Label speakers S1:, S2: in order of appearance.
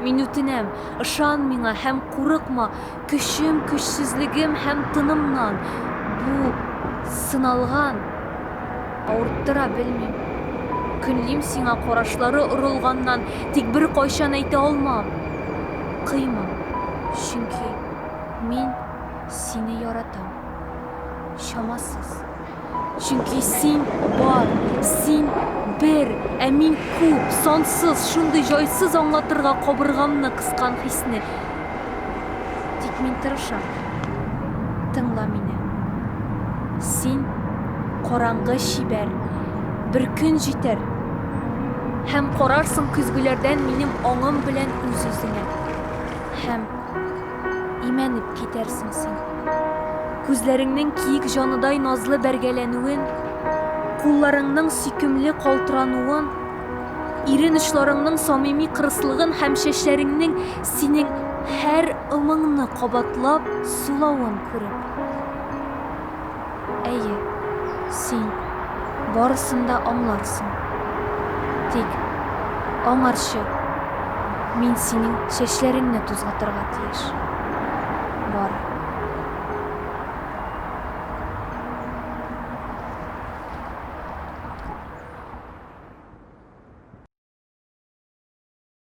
S1: Мин үтенәм, ышан миңа һәм курыкма, көчем, көчсезлегем һәм тынымнан. Бу, сыналган. Авырттыра, белмим. Көнлим сиңа карашлары орылганнан, тик беркайчан әйтә алмам. Кыйма, чөнки мин сине яратам. Чамасыз. Чөнки син бар, син бер, ә мин күп, сансыз, шундый җайсыз аңлатырга кабыргамны кыскан хисне. Тик мин тырышам. Тыңла мине. Син, караңгы чибәр, бер көн җитәр, һәм карарсың көзгеләрдән минем аңым белән үз-үзеңә, һәм. имәнеп китәрсең син. Күзләреңнең киек җаныдай назлы бәргәләнүен, кулларыңның сөйкемле калтырануын, ирен очларыңның самими кырыслыгын һәм чәчләреңнең синең һәр ымыңны кабатлап сулавын күреп. Әйе, син барысын да аңларсың. Тик, аңарчы, мин синең чәчләреңне тузгытырга тиеш. Бар.